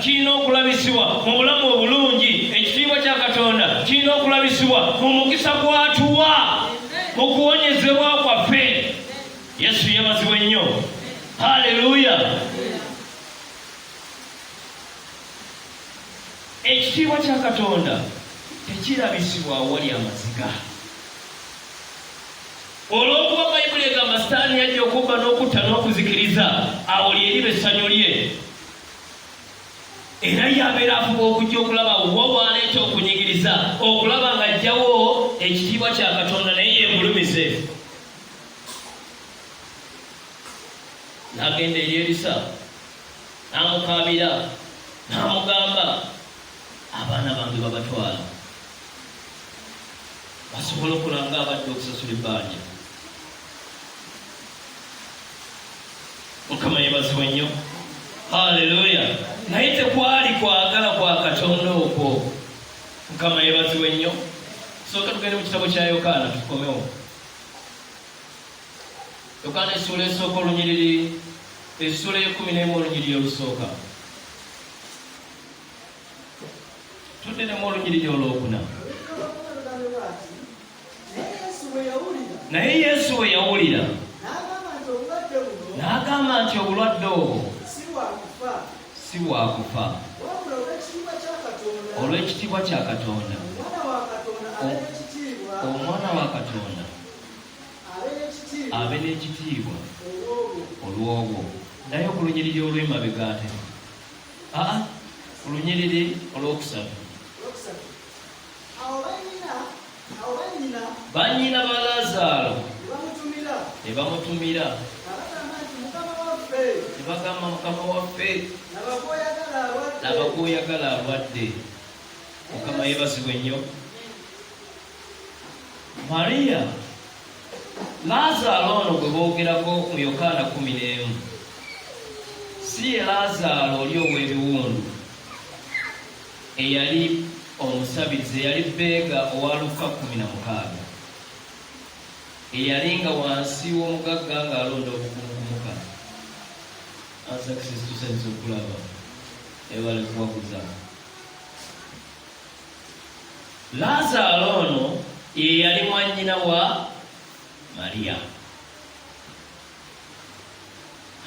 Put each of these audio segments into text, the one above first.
kirina okulabisibwa mu bulamu obulungi ekitiibwa kya katonda kirina okulabisibwa mu mukisa gwatuwa mu kuwonyezebwa kwaffe yesu yebazibwa ennyo haleluya ekitiibwa kya katonda tekirabisibwa awali amaziga olwokuba bayibuli egamba sitaani yajja okubba n'okutta n'okuzikiriza awo lyeriba essanyu lye era yabeera afuba okujja okulaba wawaala ekyokunyigiriza okulaba nga ajjawo ekitiibwa kya katonda naye yemulumize nagenda eri erisa namukabira namugamba abaana bange babatwala basobola okulanga abadde okusasula ebbanja mukama yebazibwe nnyo haleluya naye tekwali kwagala kwa katonda okwo mukama yebazibwe nnyo sooka tugende mu kitabo kya yokaana tukomewo yokaana essuula esooka olunyiriri essuula ekumi nemu olunyiriri olusooka tuddenemu olunyiriri olwokuna naye yesu we yawulira n'agamba nti obulwadde obwo si bwakufa olw'ekitiibwa kya katonda omwana wa katonda abe n'ekitiibwa olw'obwo naye ku lunyiriri olw'emabega ate aa olunyiriri olwokusatu bannyina ba laazaalo ne bamutumira ne bagamba mukama waffe laba gwoyagala alwadde mukama yebazibwe nnyo mariya laazaalo ono gwe boogerako mu yokaana kumi n'emu si ye laazaalo oli ow'ebiwundu eyali omusabiriza eyali bbeega owa lukka kkumi na mukaaga, eyalinga wansi w'omugagga ng'alonda obukumu ku muka asakisisi tusanyusa okulaba ebale kuwaguza laazaalo ono ye yali mwannyina wa mariyamu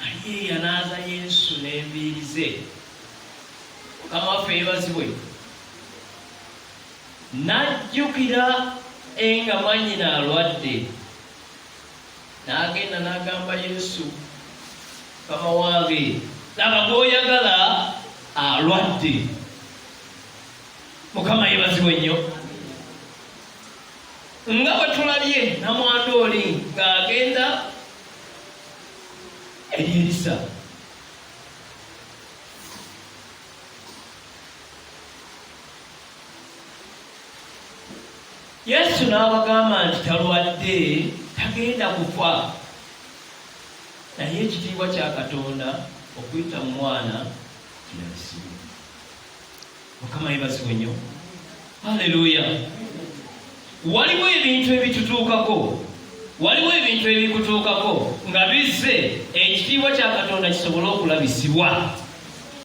Aliye yanaaza Yesu n'enviiri ze. Mukama waffe yebazibwe. N'ajjukira enga mwanyina alwadde, n'agenda n'agamba Yesu, Mukama wange, laba gw'oyagala alwadde. Mukama yebazibwe nnyo. Nga bwe tulabye namwandu oli ng'agenda eri Erisa. Yesu n'abagamba nti talwadde tagenda kufa naye ekitiibwa kya Katonda okuyita mu mwana kirabisimu. mukama yebazibwe nnyo aleluya waliwo ebintu ebitutuukako waliwo ebintu ebikutuukako nga bizze ekitiibwa kya katonda kisobole okulabisibwa